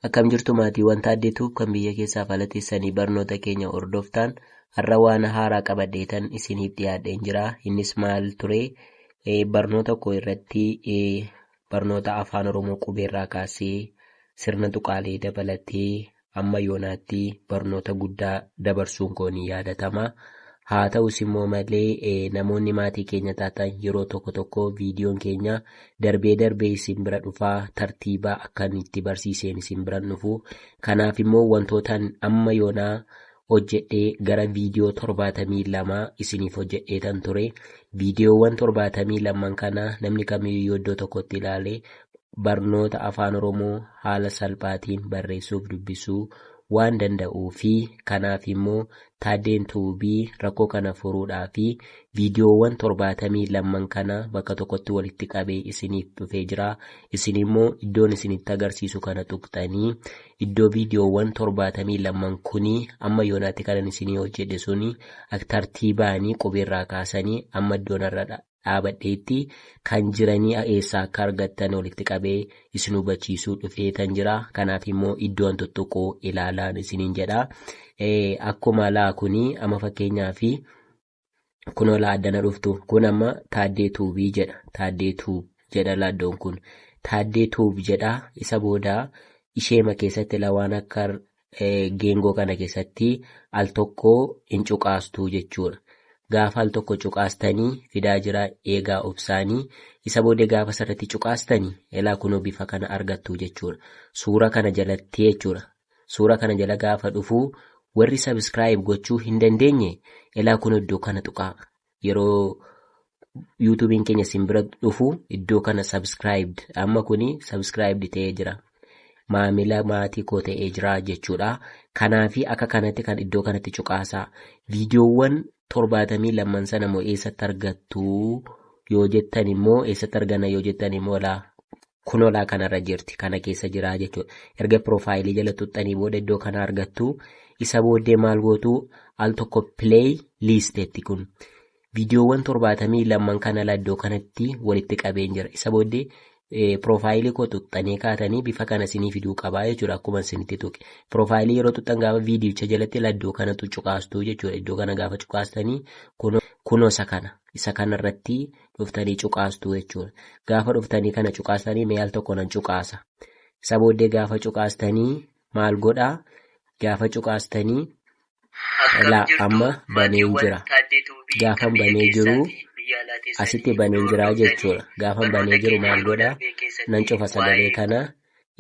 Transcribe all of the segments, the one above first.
Akkam jirtu maatiiwwan Taaddee Tuub kan biyya keessaaf ala teessanii barnoota keenya hordoftaan har'a waan haaraa qabadheetan isiniif dhiyaadheen jira. Innis maal ture? Eh, Barnoota koo irratti eh, barnoota afaan Oromoo qubeerraa kaasee sirna tuqaalee dabalatee amma yoonaatti barnoota guddaa dabarsuun koo ni yaadatama. Haa ta'us immoo malee eh, namoonni maatii keenya taatan yeroo tokko tokko viidiyoon keenya Darbee darbee isin bira dhufaa, tartiiba akkan itti barsiiseen isin biran dhufu. Kanaaf immoo wantootan amma yoonaa hojjedhee gara viidiyoo torbaatamii lama isiniif hojjedheetan ture. Viidiyoowwan torbaatamii lamman kana namni kamiyyuu yoo iddoo tokkotti ilaale barnoota Afaan Oromoo haala salphaatiin barreessuuf dubbisuu waan danda'uu fi kanaaf immoo Taaddeen Tube rakkoo kana furuudhaaf viidiyoowwan 72n kana bakka tokkotti walitti qabee isiniif dhufee jira. Isin immoo iddoon isinitti agarsiisu kana tuqxanii iddoo viidiyoowwan 72n kuni amma yoonaatti kanan isinii hojjedhe suni aktartiibaanii qubeerraa kaasanii amma iddoonarra dhaabadheetti kan jiranii eessaa akka argattan walitti qabee isin hubachiisuu dhufee tan jira kanaaf immoo iddoon tuttuquu ilaalaan isiniin jedha akkuma laa kuni amma fakkeenyaa fi kunoo laa addana dhuftu kun amma taaddee tuubii jedha taaddee tuub jedha laaddoon kun taaddee tuub jedha isa booda isheema keessatti lawaan akka geengoo kana keessatti al tokko hin cuqaastuu jechuudha. Gaafa al tokko cuqaastanii fidaa jira eegaa obsaanii isa booda gaafa sarratti cuqaastanii ilaa kunoo bifa kana argattuu jechuudha. Suura kana jalatti jechuudha. Suura kana jala gaafa dhufuu warri sabiskiraayib gochuu hin dandeenye ilaa kunoo iddoo kana tuqaa. yeroo yuutuubiin keenya isin bira dhufu iddoo kana subscribed amma kuni subscribed ta'ee jira maamila maatii koo ta'ee jira jechuudha kanaafi akka kanatti kan iddoo kanatti cuqaasaa viidiyoowwan torbaatamii lamman sana immoo eessatti argattu yoo jettan immoo eessatti arganna yoo jettan immoo laa kunolaa kanarra jirti kana keessa jiraa jechuudha erga piroofaayilii jala tuxxanii booda iddoo kana argattu isa booddee maal gootu al tokko pileey liisteetti kun viidiyoowwan torbaatamii lamman kana ala iddoo kanatti walitti qabeen jira isa booddee piroofaayilii koo tuxxanii kaatanii bifa kana sinii fiduu qabaa jechuudha akkuma sinitti tuqe piroofaayilii yeroo tuxxan gaafa viidiyicha jalatti laddoo kanatu cuqaastuu jechuudha iddoo kana gaafa cuqaastanii kunoo isa kana isa kanarratti. irratti dhuftanii cuqaastu jechuudha. Gaafa dhuftanii kana cuqaastanii mee al tokko nan cuqaasa. Isa booddee gaafa cuqaastanii maal godhaa? Gaafa cuqaastanii laa amma baneen jira. Gaafan banee jiru asitti baneen jira jechuudha. Gaafan banee jiru maal godhaa? Nan cufa sagalee kana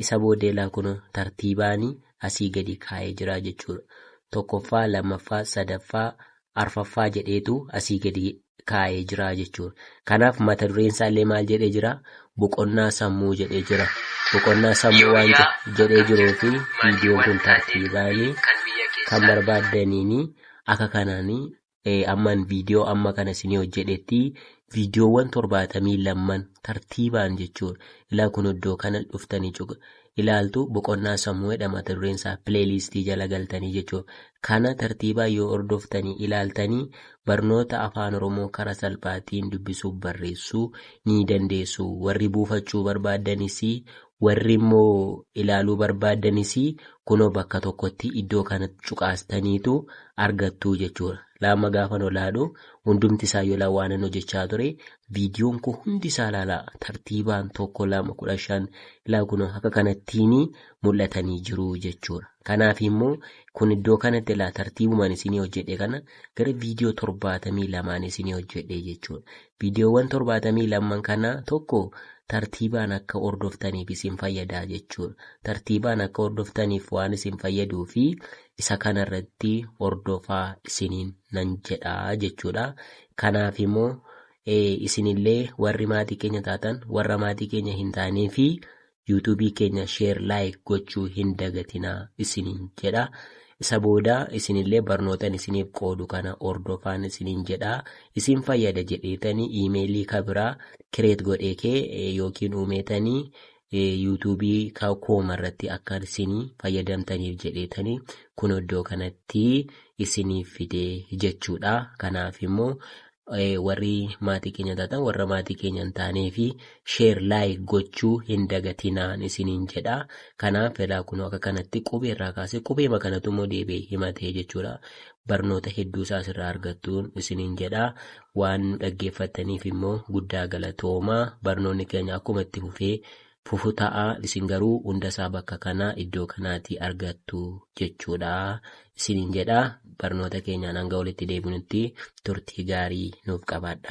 Isa boodeelaa kunoo tartiibaani asii gadi kaa'ee jira jechuudha. Tokkoffaa, lammaffaa, sadaffaa, arfaffaa jedheetu asii gadi kaa'ee jira jechuudha. Kanaaf mata dureen isaallee maal jedhee jira? Boqonnaa sammuu jedhee jira. Boqonnaa sammuu waan Yooyyaa je- jedhee jiruu fi viidiyoon kun maatiiwwan tartiibaani maaliiwwanii kan biyya kan keessaa barbaaddaniini akka kanaani eh, amman viidiyoo amma kana isinii hojjedhetti viidiyoowwan torbaatamii lamman tartiibaan jechuun ilaa kun iddoo kana dhuftanii cuq ilaaltu boqonnaa sammuu jedha mata dureen isaa pileeliistii jala galtanii jechuun kana tartiibaan yoo hordoftanii ilaaltanii barnoota afaan oromoo karaa salphaatiin dubbisuuf barreessuu ni dandeessu warri buufachuu barbaaddanis Warri immoo ilaaluu barbaaddanis kunoo bakka tokkotti iddoo kana cuqaastaniitu argattu jechuudha. Laama gaafan olaadhu hundumti isaa yola waanan hojjechaa ture viidiyoon koo hundi isaa laala tartiibaan tokko lama kudha shan ilaa kunoo akka kanattiin mul'atanii jiru jechuudha. Kanaaf immoo kun iddoo kanatti ilaa tartiibumaan isinii hojjedhe kana gara viidiyoo torbaatamii lamaan isinii hojjedhe jechuudha. Viidiyoowwan 72n kana tokko tartiibaan akka hordoftaniif isin fayyada jechuudha. Tartiibaan akka hordoftaniif waan isin fayyaduu fi isa kana irratti hordofaa isiniin nan jedha jechuudha. Kanaaf immoo isinillee warri maatii keenya taatan warra maatii keenya hin taanee fi YouTube keenya share like gochuu hin dagatinaa isiniin jedha. Isa booda isinillee barnootan isiniif qoodu kana hordofaan isiniin jedha. Isin fayyada jedheetanii iimeelii ka biraa kireet godhee kee eh, yookiin uumeetanii eh, YouTube ka kooma irratti akka isinii fayyadamtaniif jedheetanii kun iddoo kanatti isiniif fidee jechuudha. Kanaaf immoo warri maatii keenya taatan warra maatii keenya hin taanee fi sheer laayik gochuu hin dagatinaan isiniin jedha. Kanaaf felaa kunoo akka kanatti qubee irraa kaasee qubeema kanatu immoo deebi'ee himatee jechuudha. Barnoota hedduu isaa asirraa argattuun isiniin jedha. Waan nu dhaggeeffattaniif immoo guddaa galatooma. Barnoonni keenya akkuma itti fufee fufu ta'a isin garuu hunda isaa bakka kana iddoo kanaatii argattu jechuudha isiniin jedha barnoota keenyaan hanga walitti deebinutti turtii gaarii nuuf qabaadha.